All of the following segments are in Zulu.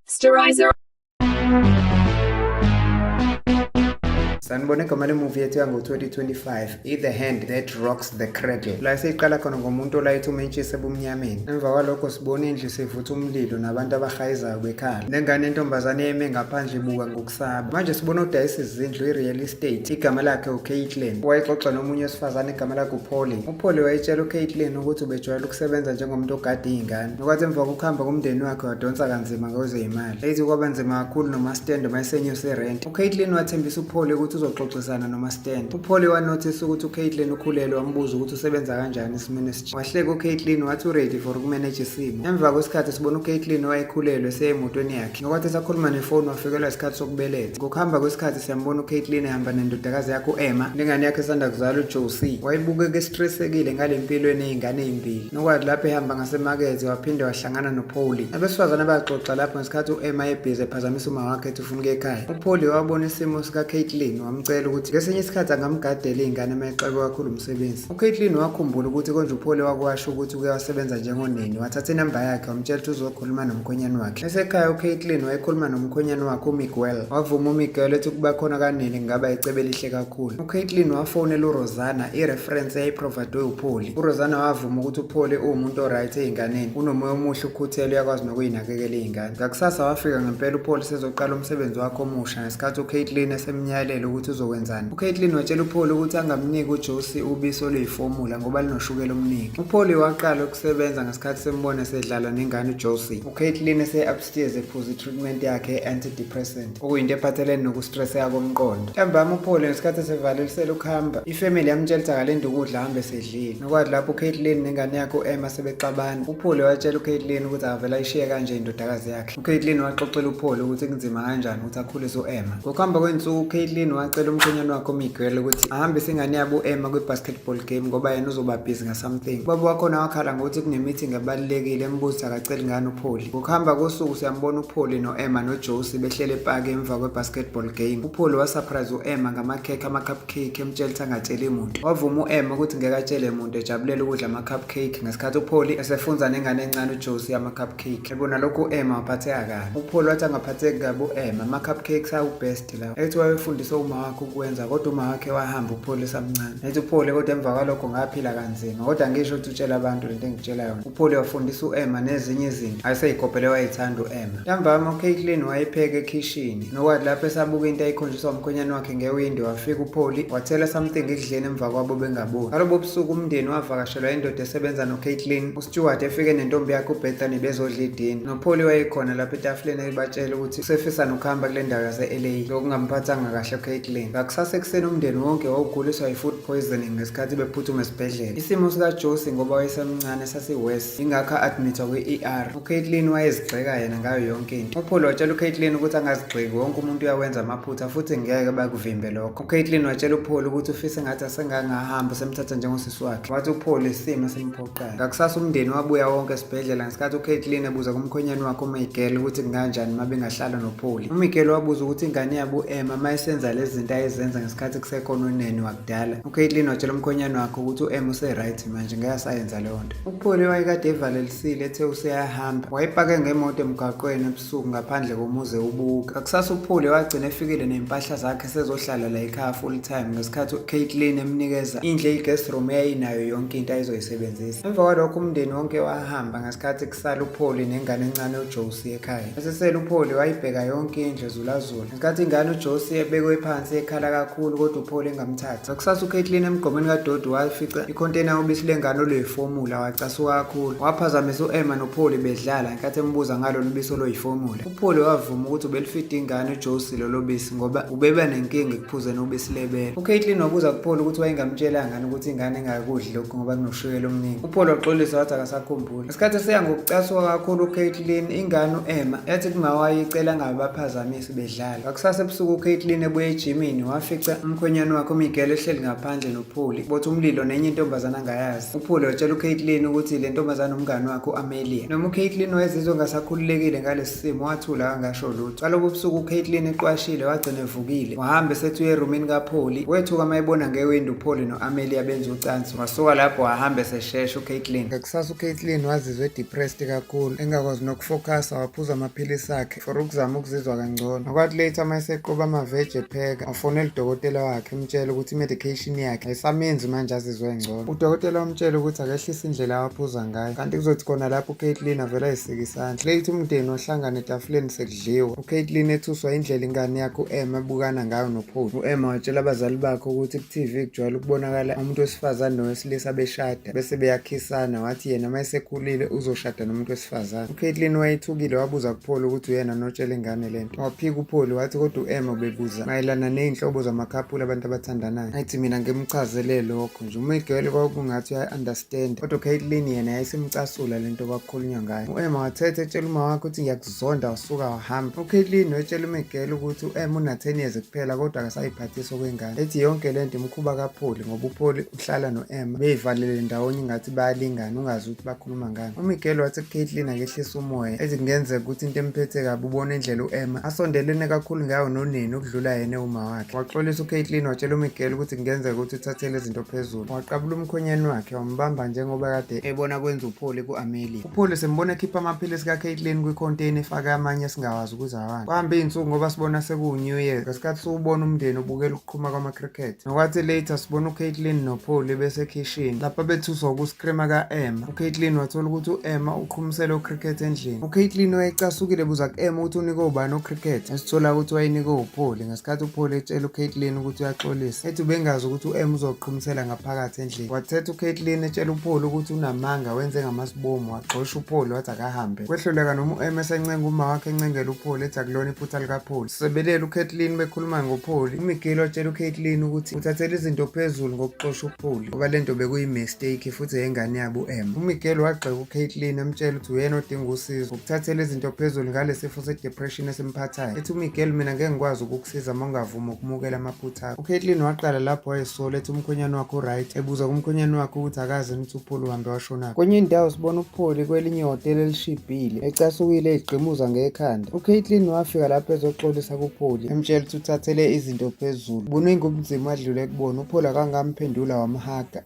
Sterilizer. sanibone igama lemuvi yethu yango-2025 i-the hand that rocks the cradle la seyiqala khona ngomuntu olayitha umentshisi ebumnyameni emva kwalokho sibona indlu sevutha umlilo nabantu abahayizayo bekhala nengane entombazane yeme ngaphandle ibuka saba manje sibona udayisa izindlu i-real estate igama lakhe ucaitlin wayexoxa nomunye wesifazane igama lakhe upholi upholi wayetshela ucaitlin ukuthi ubejwayela ukusebenza njengomuntu ogade iy'ngane nokwathi emva kokuhamba komndeni wakhe wadonsa kanzima kwezeyimali eyithi kwaba nzima kakhulu nomastende mayesenyuse irenti ucaitlin wathembisa upholi ukuthi uzoxoxisana nomastende upholi wanothisa ukuthi ucaitlin ukhulelwe wambuza ukuthi usebenza kanjani esimeni esitsha wahleka ucaitlin wathi uready for ukumeneja isimo emva kwesikhathi sibona ucaitlin wayekhulelwe seyemotweni yakhe Nokwathi esakhuluma nefoni wafikelwa isikhathi sokubeletha. Ngokuhamba kwesikhathi siyambona uCaitlin ehamba nendodakazi yakhe u-Emma nengane yakhe esanda kuzalwa uJosie. Wayebukeka estresekile ngale mpilo eney'ngane ey'mbili. Nokwathi lapho ehamba ngasemakethe waphinde wahlangana noPauli. Abesifazane baxoxa lapho ngesikhathi u-Emma ebhizi ephazamisa uma wakhe ethi ufuna ukuya ekhaya. UPauli wabona isimo sikaCaitlin wamcela ukuthi ngesinye isikhathi angamgadela iy'ngane uma exakwe kakhulu umsebenzi. UCaitlin wakhumbula ukuthi konje uPauli wakwasho ukuthi uke wasebenza njengoneni. Wathatha inamba yakhe wamtshela ukuthi khuluma nomkhwenyane wakhe esekhaya ucaitlin wayekhuluma nomkhwenyane wakhe umiguel wavuma umiguel ethi ukuba khona kanini kungaba icebe elihle kakhulu ucaitlin wafonela urosana ireferensi eyayiprovadwe upholi urosana wavuma ukuthi upholi uwumuntu oright ey'nganeni unomoya omuhle ukhuthele uyakwazi nokuyinakekela iy'ngane ngakusasa wafika ngempela upholi sezoqala umsebenzi wakhe omusha ngesikhathi ucaitlin esemnyayelela ukuthi uzokwenzani ucaitlin watshela upholi ukuthi angamniki ujosi ubisi oluyifomula ngoba linoshukela omningi upholi waqala ukusebenza isikhathi sembona sedlala nengane uJosie. UCaitlin ese-upstairs ephuza i-treatment yakhe antidepressant okuyinto ephathelene nokustresseka komqondo. Ntambama uPaul ngesikhathi esevalelisela ukuhamba, ifamily yamtshela ukuthi akalinde ukudla ahambe esedlile. Nokwathi lapho uCaitlin nengane yakhe u-Emma sebexabana, uPaul watshela uCaitlin ukuthi akavele ayishiye kanje indodakazi yakhe. UCaitlin waxoxela uPaul ukuthi kunzima kanjani ukuthi akhulise u-Emma. Ngokuhamba kwensuku uCaitlin wacela umkhwenyana wakhe uMiguel ukuthi ahambise ingane yabo u-Emma kwi-basketball game ngoba yena uzoba busy ngasomething. Ubaba wakhona wakhala ngokuthi kunemeeting ebalulekile embuzi akaceli ngani uPaul. Ngokuhamba kosuku siyambona uPaul no-Emma noJosie behlele epaki emva kwe-basketball game. UPaul wasurprise u-Emma ngamakhekhe ama-cupcake emtshela ukuthi angatsheli muntu. Wavuma u-Emma ukuthi ngeke atshele muntu ejabulela ukudla ama-cupcake ngesikhathi uPaul esefunza nengane encane uJosie ama-cupcake. cake ebona lokho u-emma waphatheka kabi upholi wathi angaphatheki kabi u-emma ama-cupcakes awu-best lawo ethi wayefundisa uma wakhe ukuwenza kodwa uma wakhe wahamba upholi esamncane ethi upholi kodwa emva kwalokho ngaphila kanzima kodwa ngisho ukuthi utshela abantu lento engitshela yona upholi wafundisa u-emma nezinye izinto ayeseyikopele wayethanda u-emma ntambama ucaitlin wayepheka ekhishini nokwadi lapho esabuka into ayikhonjiswa umkhwenyane wakhe ngewindi wafika upholi wathela something ekudleni emva kwabo bengaboni ngalobo busuku umndeni wavakashelwa indoda esebenza nocaitlin Stewart efike nentombi yakhe uBethany bezodla idini. NoPaul wayekhona lapha etafuleni ebatshela ukuthi usefisa nokuhamba kule ndawo yase-LA lokungamphathanga kahle uCaitlin. Ngakusasa ekuseni umndeni wonke wawuguliswa yi-food poisoning ngesikhathi bephuthuma esibhedlela. Isimo sikaJosie ngoba wayesemncane sasiworse, ingakho a-admithwa kwi-ER. UCaitlin wayezigxeka yena ngayo yonke into. UPaul watshela uCaitlin ukuthi angazigxeki, wonke umuntu uyawenza amaphutha futhi ngeke bakuvimbe lokho. UCaitlin watshela uPaul ukuthi ufisa engathi asengangahamba usemthatha njengosisi wakhe. Wathi uPaul isimo simphoqa. kuqala. Ngakusasa umndeni wabuya wonke esibhedlela ngesikhathi uCaitlin ebuza kumkhwenyana wakhe uMiguel ukuthi kunganjani uma bengahlala noPauli. UMiguel wabuza ukuthi ingane yabo u-Emma uma isenza lezi zinto ayezenza ngesikhathi kusekhona unene wakudala. UCaitlin watshela umkhwenyana wakhe ukuthi u-Emma use-right manje ngeke asayenza leyo nto. UPauli wayekade evalelisile ethe useyahamba. Wayepake ngemoto emgwaqweni ebusuku ngaphandle komuzi ewubuka. Ngakusasa uPauli wagcina efikile ney'mpahla zakhe sezohlala la ekhaya full time ngesikhathi ucaitlin emnikeza indle i-guest room eyayinayo yonke into ayizoyisebenzisa emva kwalokho umndeni wonke wahamba ngesikhathi kusala upholi nengane encane ujosi ekhaya esesele upholi wayibheka yonke indle zulazula ngesikhathi ingane ujosi ebekwe phansi ekhala kakhulu kodwa upholi engamthathi ngakusasa ucaitlin emgqomeni kadodi wafica ikhontena ubisi lengane oluyifomula wacasuka kakhulu waphazamisa u-emma nopholi bedlala ngenkathi embuza ngalolu bisi oloyifomula Uphole wavuma ukuthi ubelifida ingane uJosi lolo bisi ngoba ubeba nenkinga ekuphuzeni ubisi lebele. UCaitlin wabuza kuPhole ukuthi wayengamtshela ngani ukuthi ingane ingakudli lokhu ngoba kunoshukela omningi. UPhole waxolisa wathi akasakhumbuli. Isikhathi seya ngokucasuka kakhulu uCaitlin, ingane u-Emma yathi kumawayo icela ngabe baphazamisi bedlala. Ngakusasa ebusuku uCaitlin ebuye ejimini wafica umkhwenyana wakhe uMiguel ehleli ngaphandle Phuli bothi umlilo nenye intombazana angayazi. UPhuli watshela uCaitlin ukuthi le ntombazana umngane wakhe u-Amelia. Noma uCaitlin wayezizwe ngasakhululekile ngalesi simo wathula angasho lutho. Kalobo ubusuku uCaitlin eqwashile wagcina evukile. Wahamba esethi uye erumini kaPhuli. Wethuka mayebona ngewindi uPhuli no-Amelia benza ucansi. Wasuka lapho wahamba eseshesha uCaitlin. Ngakusasa uCaitlin wazizwa edepressed kakhulu engakwazi nokufocus waphuza amaphilisi akhe. for ukuzama ukuzizwa kangcono ngokwathi later uma eseqoba amaveji epheka wafonela udokotela wakhe umtshela ukuthi i-medication yakhe ayisamenzi manje azizwe ngcono udokotela wamtshela ukuthi akehlise indlela awaphuza ngayo kanti kuzothi khona lapho ucaitlin avele ayisike isandla later umndeni wahlangana etafuleni sekudliwa ucaitlin ethuswa indlela ingane yakhe u-em ebukana ngayo nopholi u-em watshela abazali bakhe ukuthi ku-tv kujwayele ukubonakala umuntu wesifazane nowesilisa beshada bese beyakhisana wathi yena uma esekhulile uzoshada nomuntu wesifazane ucaitlin wayethukile wabuza kupholi ukuthi uyena notshela ingane le nto waphika upholi wathi kodwa u-em ubebuza mayelana ney'nhlobo zamakhaphula abantu abathandanayo ngathi mina ngimchazele lokho nje umigele kwakungathi uyayi-understanda kodwa ucaitlin yena yayisimcasula le nto kwakukhulunywa ngayo u-em wathetha etshela uma wakhe ukuthi ngiyakuzonda wasuka wahamba ucaitlin wetshela umigele ukuthi u-em una-ten years kuphela kodwa akasayiphathisa okwengane ethi yonke le nto imkhuba kapholi ngoba upholi uhlala no-emma beyivalele ndawonye ingathi bayalingana ungazi ukuthi bakhuluma ngani umiguel wathi kucaitlin akehlisa umoya ethi kungenzeka ukuthi into emphethe kabi ubona indlela u-emma asondelene kakhulu ngayo noneni ukudlula yena ewuma wakhe waxolisa ucaitlin watshela umiguel ukuthi kungenzeka ukuthi uthathele izinto phezulu waqabula umkhonyeni wakhe wambamba njengoba kade ebona kwenza upholi ku-amelia upholi sembona ekhipha amaphilisi kacaitlin kwikhonteyini efake amanye esingawazi ukuze awani kwahamba iy'nsuku ngoba sibona sekuwu-new year ngesikhathi siwubona umndeni ubukela qhuma kwama-cricket nokwathi later sibona ucaitlin nopholi besekhishini lapho bethuswa ukuskrima ka-emma ucaitlin wathola ukuthi u-emma uqhumisele ucricket endlini ucaitlin wayecasukile buza ku-emma ukuthi unike ubani ucricket esithola ukuthi wayenike upholi ngesikhathi upholi etshela ucaitlin ukuthi uyaxolisa ethi ubengazi ukuthi u-emma uzoqhumisela ngaphakathi endlini wathetha ucaitlin etshela upholi ukuthi unamanga wenze ngamasibomu wagxosha upholi wathi akahambe kwehluleka noma u-emma esencenga uma wakhe encengela upholi ethi akulona iphutha likapholi Sebelela uKathleen bekhuluma ngoPholi. UMigili watshela uKathleen ukuthi uthathela izinto phezulu ngokuxosha uPholi ngoba le nto bekuyimistake futhi yengane yabo u-M. UMigili wagxeka uKathleen amtshela ukuthi uyena odinga usizo ukuthathela izinto phezulu ngale sifo se-depression esimphathayo. Ethi uMigili mina ngeke ngikwazi ukukusiza uma ungavumi ukumukela amaphutha akho. UKathleen waqala lapho wayesola ethi umkhwenyana wakhe uright ebuza kumkhwenyana wakhe ukuthi akazi nithi Pholi uhambe washonaphi? Kwenye indawo sibona uPholi kwelinye ihhotela elishibhile ecasukile egqimuza ngekhanda. UCaitlin wafika lapho ezoxolisa kuPholi emtshela ukuthi uthathele izinto phezulu. Buningi ubunzima adlule kubona uPholi akangamphendula wamhaga.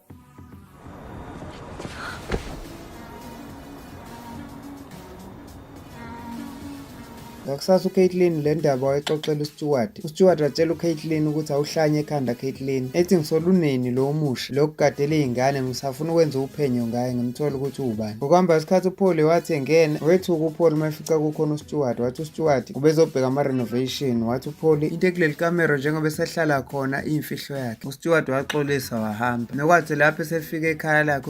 Ngakusasa uCaitlin le ndaba wayexoxela uStewart. UStewart watshela uCaitlin ukuthi awuhlanye ekhanda Caitlin. Ethi ngisoluneni lo omusha lo kugadela izingane ngisafuna ukwenza uphenyo ngaye ngimthola ukuthi ubani. Ngokuhamba isikhathi uPaul wathi engena wethuka uPaul mayifica kukhona uStewart wathi uStewart ubezobheka ama renovation wathi uPaul into ekuleli camera njengoba esehlala khona imfihlo yakhe. UStewart waxolisa wahamba. Nokwathi lapho esefika ekhaya lakhe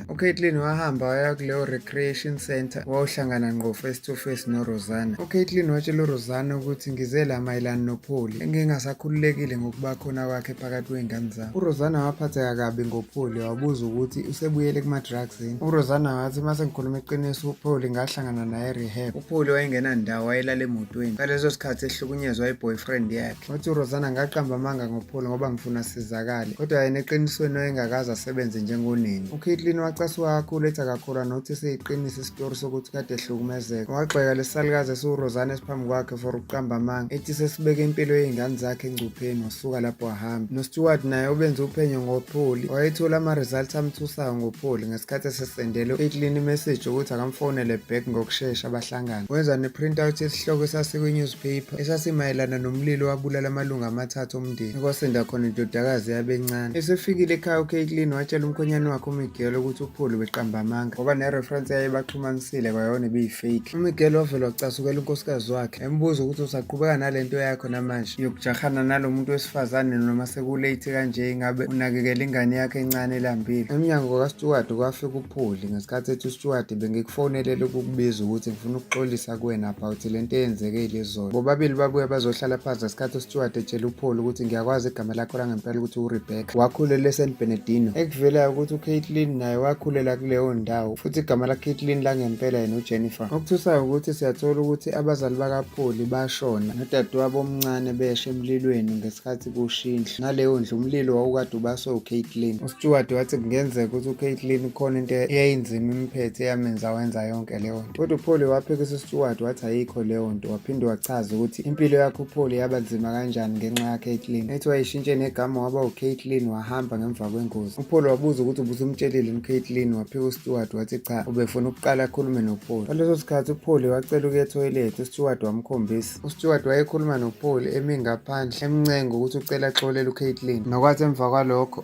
uCaitlin wahamba waya kuleyo recreation center wawuhlangana ngqo face to face noRosana. UCaitlin watshela uRosana ukuthi ngize la mayelana noPholi engingasakhululekile ngokuba khona kwakhe phakathi kwey'ngane zami. URosana waphatheka kabi ngoPholi wabuza ukuthi usebuyele kuma-drugs yini. URosana wathi uma sengikhuluma iqiniso uPholi ngahlangana naye rehab. UPholi wayengenandawo wayelala emotweni ngaleso sikhathi ehlukunyezwa i-boyfriend yakhe. Wathi uRosana ngaqamba amanga ngoPaul ngoba ngifuna sizakale kodwa yena eqinisweni wayengakaze asebenze njengoneni. UKitlin wacasuka kakhulu ethi akakholwa nokuthi siyiqinisa isitori sokuthi kade ehlukumezeka. Wagxeka lesisalukazi esiwuRosana esiphambi kwakhe for ukuqamba amanga ethi sesibeke impilo yey'ngane zakhe engcupheni wasuka lapho wahamba. NoSteward naye obenze uphenyo ngoPaul wayethola ama-results amthusayo ngoPaul ngesikhathi esesendele uKitlin imeseji yokuthi akamfonele back ngokushesha bahlangane. Wenza ne-printout yesihloko esasikwinewspaper esasimayelana nomlilo wabulala amalungu amathathu omndeni kwasinda khona indodakazi yabencane esefikile ekhaya ucaitlin watshela umkhonyane wakhe umigelo ukuthi uphulu beqamba amanga ngoba nereference yaye baxhumanisile kwayona ebiyifake umigelo wavele wacasukela unkosikazi wakhe embuza ukuthi usaqhubeka nale nto yakho namanje yokujahana nalo muntu wesifazane noma sekulate kanje ingabe unakekela ingane yakhe encane elambile emnyango kasteward kwafika Pholi ngesikhathi ethi uStuart bengikufonelele ukukubiza ukuthi ngifuna ukuxolisa kuwena about le nto eyenzeke ilizolo bobabili babuye bazohlala phansi ngesikhathi uStuart etshela uPholi ukuthi ngiyakwazi igama lakho langempela ukuthi uRebecca wakhulela eSan Bernardino ekuvelayo ukuthi uCaitlin naye wakhulela kuleyo ndawo futhi igama laCaitlin langempela yena uJennifer okuthusayo ukuthi siyathola ukuthi abazali bakaPholi bashona nodadewabo omncane beshe emlilweni ngesikhathi ukushiya indlu naleyo ndlu umlilo wawukade ubaswe ucaitlin usteward wathi kungenzeka ukuthi ucaitlin khona into eyayinzima imphethe eyamenza wenza yonke leyo nto kodwa upholi waphikisa usteward wathi ayikho leyo nto waphinde wachaza ukuthi impilo yakho upholi yaba nzima kanjani ngenxa yakaitlin ethi wayishintshe negama waba ucaitlin wahamba ngemva kwengozi upholi wabuza ukuthi ubusumtshelile ucaitlin waphika usteward wathi cha ubefuna ukuqala akhulume nopholi ngaleso sikhathi upholi wacela ukuya ethoyilethi usteward wamkhombisa UStewart wayekhuluma noPaul emi ngaphandle emncenga ukuthi ucela axolele uCaitlin. Nokwathi emva kwalokho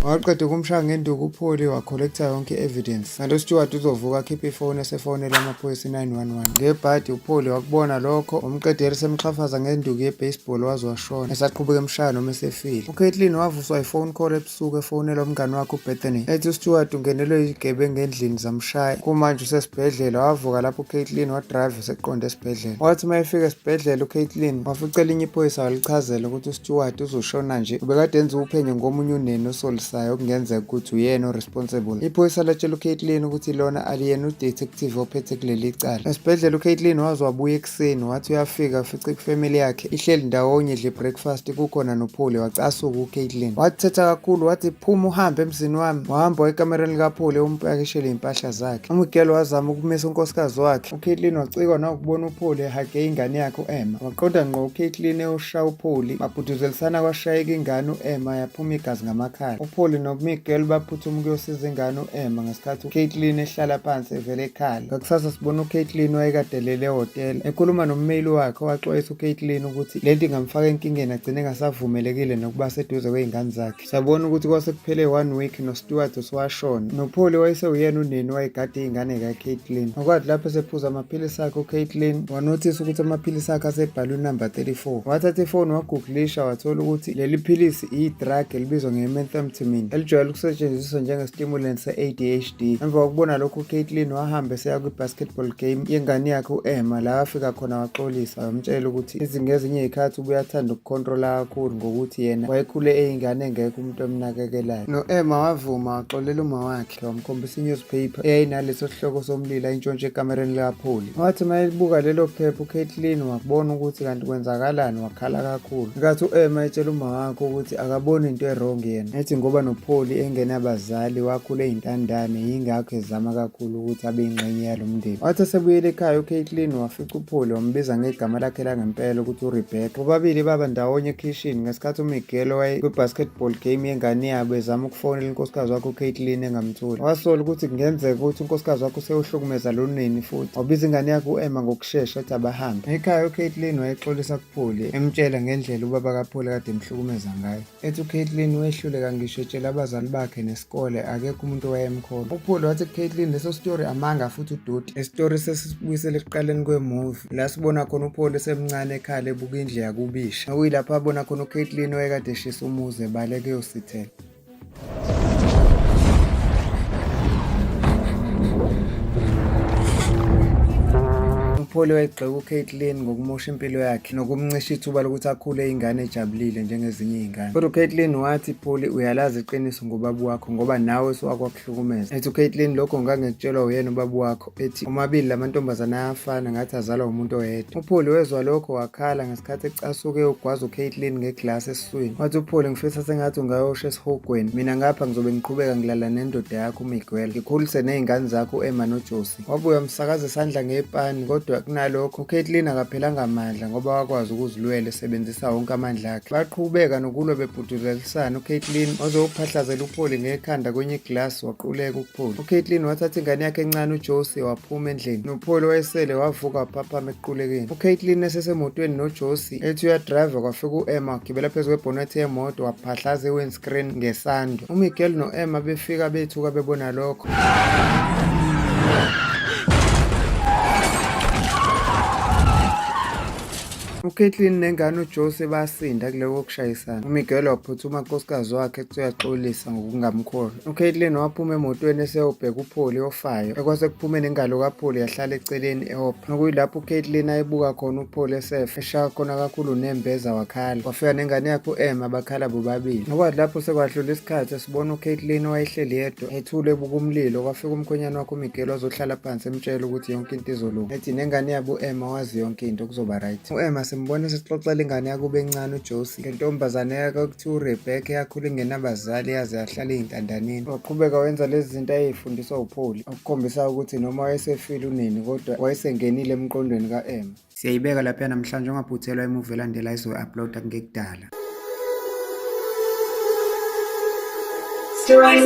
waqeda ukumshaya ngenduku upholi wakholektha yonke i-evidence kanti usteward uzovuka akhiphe ifoni esefonela amaphoyisa i-911 ngebhadi upholi wakubona lokho umqedeli semxhafaza ngenduku ye-baseball waze washona esaqhubeka emshaya noma esefile ucaitlin wavuswa ifone call usuku efonela umngane wakhe uBethany ethi uStewart ungenelwe izigebengu endlini zamshaya kumanje usesibhedlela wavuka lapho uCaitlin wadrive eseqonde esibhedlela wathi uma efika esibhedlela uCaitlin wafica elinye iphoyisa walichazela ukuthi uStewart uzoshona nje ubekade enza uphenyo ngomunye uneni osolisayo okungenzeka ukuthi uyena oresponsible iphoyisa latshela uCaitlin ukuthi lona aliyena udetective ophethe kuleli cala esibhedlela uCaitlin waze wabuya ekuseni wathi uyafika afice kufamily yakhe ihleli ndawonye idle breakfast kukhona nopholi wacasuka ucaitlin wathetha kakhulu wathi phuma uhambe emzini wami wahamba wayekamereni likapholi umpakishele iy'mpahla zakhe umigelo wazama ukumisa unkosikazi wakhe ucaitlin wacikwa nawukubona upholi ehage ingane yakhe u-emma waqonda ngqo ucaitlin ewushaya upholi babhuduzelisana kwashayeka ingane u-emma yaphuma igazi ngamakhala upholi nomigelo baphuthuma ukuyosiza ingane u-emma ngesikhathi uCaitlin ehlala phansi evele ekhala ngakusasa sibona uCaitlin wayekadelele ehhotela ekhuluma nommeli wakhe owaxwayisa uCaitlin ukuthi le nto ingamfaka enkingeni agcine engasavumelekile nokuba seduze kwey'ngane zakhe sabona ukuthi kwase kuphele one week nostewart usuwashona nopholi wayesewuyena uneni wayegade iy'ngane kaCaitlin okwathi lapho esephuza amaphilisi akhe uCaitlin wanothisa ukuthi amaphilisi akhe asebhalwe unumber 34 wathatha ifoni wagugulisha wathola ukuthi leli philisi Idrug elibizwa nge-methamphetamine elijwayele ukusetshenziswa njenge-stimulant se-ADHD. Emva kokubona lokhu uCaitlin wahamba eseya kwi-basketball game yengane yakhe u-Emma la afika khona waxolisa wamtshela ukuthi ngezinye izikhathi ubuye athanda ukukhontrola kakhulu ngokuthi yena wayekhule eyingane engekho umuntu emnakekelayo. No-Emma wavuma waxolela uma wakhe. Ngiyomkhombisa i-newspaper eyayinaleso sihloko somlilo ayintshontshe ekamereni likapholi. Wathi uma elibuka lelo phepha uCaitlin wakubona ukuthi kanti kwenzakalani wakhala kakhulu. Nkathi u-Emma etshela uma wakhe ukuthi akaboni into erong yena. Ethi ngoba nopholi engenabazali wakhula eyintandane yingakho ezama kakhulu ukuthi abe yingxenye yalo mndeni. Wathi esebuyele ekhaya uCaitlin wafika Cuphule wambiza ngegama lakhe langempela ukuthi uRebecca. Bobabili baba ndawonye ekhishini ngesikhathi uMiguel waye kwi-basketball game yengane yabo ezama ukufonela unkosikazi wakhe uCaitlin engamtholi. Wasola ukuthi kungenzeka ukuthi unkosikazi wakhe usewuhlukumeza lo nini futhi wabiza ingane yakhe u-Emma ngokushesha ethi abahambe. Ekhaya uCaitlin wayexolisa kuPhuli emtshela ngendlela ubaba kaPhuli kade emhlukumeza ngayo. ethi uCaitlin wehluleka ngisho etshela abazali bakhe nesikole akekho umuntu owayemkhona uPaul wathi kuCaitlin leso story amanga futhi udoti isitori sesibuyisele ekuqaleni kwemovie la sibona khona uPaul esemncane ekhala ebuka indle yakubisha okuyilapho abona khona uCaitlin owayekade eshisa umuzi ebaleke yosithela Umpholi wayegxeka uCaitlin ngokumosha impilo yakhe nokumncisha ithuba lokuthi akhule ingane ejabulile njengezinye izingane. Kodwa uCaitlin wathi Pholi uyalazi iqiniso ngobaba wakho ngoba nawe siwakwakuhlukumeza. Ethi uCaitlin lokho ngangikutshelwa uyena ubaba wakho ethi omabili lamantombazana ayafana ngathi azalwa umuntu oyedwa. UPholi wezwa lokho wakhala ngesikhathi ecasuke ugwaza uCaitlin ngeglass esiswini wathi uphole ngifisa sengathi ungayosha esihogweni mina ngapha ngizobe ngiqhubeka ngilala nendoda yakho umiguel ngikhulise ney'ngane zakho u-emma nojosi wabuye wamsakaza isandla ngepani kodwa kunalokho ucaitlin akaphelanga amandla ngoba wakwazi ukuzilwela esebenzisa wonke amandla akhe baqhubeka nokulwa bebhuduzelisana ucaitlin waze wophahlazela upholi ngekhanda kwenye iglasi waquleka ukupholi ucaitlin wathatha ingane yakhe encane ujosi waphuma endlini nopholi wayesele wavuka waphaphama ekuqulekeni ucaitlin esesemotweni nojosi itaxi ethi uyadrayiva kwafika u-emma wagibela phezu kwebhonethi yemoto waphahlaza i-windscreen ngesando umiguel no-emma befika bethuka bebona lokho uKaitlin nengane uJose basinda kuloko kushayisana. UMiguel waphuthuma unkosikazi wakhe ethi uyaxolisa ngokungamkholi. UCaitlin waphuma emotweni eseyobheka uPholi ofayo. Ekwase kuphume nengalo kaPholi yahlala eceleni ehopha. Nokuyilapho uCaitlin ayibuka khona uPholi esefa, eshaya khona kakhulu nembeza wakhala. Wafika nengane yakhe u-Emma bakhala bobabili. Nokwathi lapho sekwadlula isikhathi esibona uCaitlin owayehleli yedwa ethule ebuka umlilo, kwafika umkhwenyane wakhe uMiguel wazohlala phansi emtshela ukuthi yonke into izolunga. Ethi nengane yabo u-Emma wazi yonke into kuzoba right. U-Emma simbona esixoxela ingane yakube encane uJosie. Le ntombazane yakhe okuthiwa uRebecca yakhula ingenabazali yaze yahlala eyintandaneni. Waqhubeka wenza lezi zinto ayeyifundiswa uPaul, okukhombisa ukuthi noma wayesefile unini kodwa wayesengenile emqondweni ka-Emma. Siyayibeka lapha namhlanje ungaphuthelwa imuvi elandela izoyi-uploada kungekudala. Stories